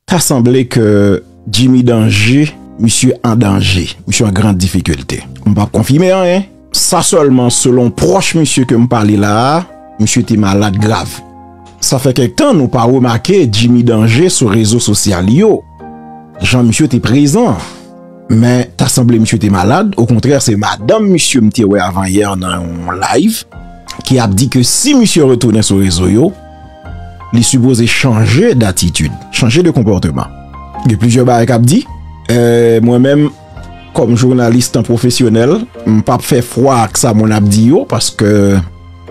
Ta sanble ke Jimmy Danje, misye an danje, misye an grand difikilte. M pa p konfime anyen. Sa sèlman selon pwòch misye ke m pale la a, misye te malad grav. Sa fè kèk tan nou pa remake Jimmy Danje sou rezo sosyal yo, jan misye te prezan. Men, ta sanble misye te malad, okontrè se madanm misye m te wè avan yè nan yon live, ki ap di ke si misye retounen sou rezo yo, li sipoze chanje datitid, chanje de konpòteman. Gen plizyè bagay kap di, eh, mwen menm, kòm jounalis tan pwofesyonèl, m pap fè fwa ak sa moun ap di yo, paske,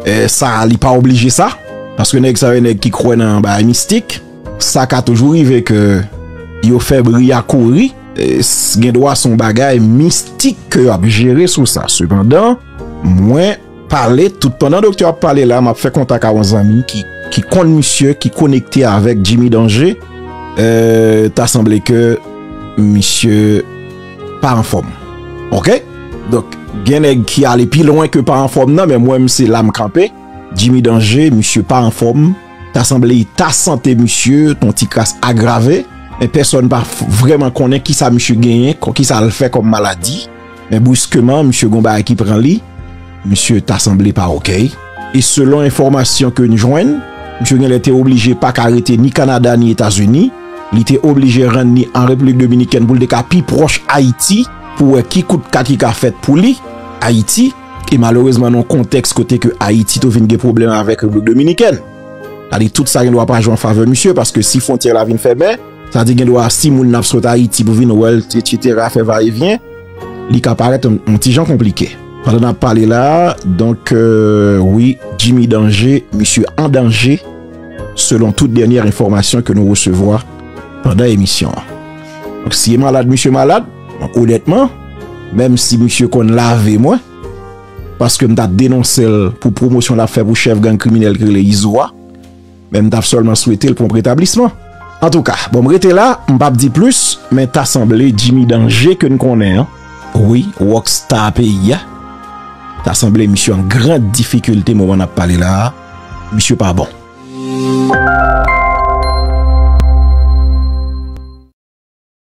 eh, sa li pa oblije sa, paske nèg sa yo nèg ki kwè nan bagay mistik, sa ka toujou rive ke yo fè bri a kouri, eh, gen dwa son bagay mistik ke yo ap jere sou sa, sepandan, mwen. Pale tout pandan doktè ap pale la map fè kontak a yon zanmi ki konn misye ki konekte avèk Jimmy Danger euh ta sanble ke misye pa anfòm ok donk gen nèg ki ale pi lwen ke pa anfòm nan men mwen se la m kanpe Jimmy Danger misye pa anfòm ta sanble eta sante misye ton ti kras agrave men pèsòn pa vrèman konnen kisa misye genyen kisa l fè kòm maladi. Men briskeman misye gon bagay ki pran li, misye ta sanble pa okay. E selon enfòmasyon ke n jwenn, misye genlè te oblije pa ka rete ni Kanada ni Etazini, li te oblije rann ni an Repiblik Dominikèn pou l te ka pi pwòch Ayiti, pou wè ki kout ka ki ka fèt pou li, Ayiti, e malerezman nan yon kontèks kote ke Ayiti tou vin gen pwoblèm avèk Repiblik Dominikèn. Sa vle di tout sa gen dwa pa jwe an favè misye, paske si fwontyè la vin fèmen, Sa di gen dwa si moun nan ap sot Ayiti pou vin wè l etc fè va e vyen li ka parèt yon ti jan konplike. Pandan n ap pale la a donk wi Jimmy Danger misye an danje selon tout dènyè enfòmasyon ke nou resevwa pandan emisyon an. Donk si e malad misye malad donk onètman menm si misye konn lave mwen paske m ta denonse l pou pwomosyon l ap fè pou chèf gang kriminèl ki rele Izo a. Men m tap sèlman swete l pwonp retablisman. Antouka, bon m rete la, m pap di plis, men ta sanble Jimmy Danger ke n konnen an, wi, rock star peyi a, ta sanble misye an gran difikilte moman n ap pale la a, misye pa bon.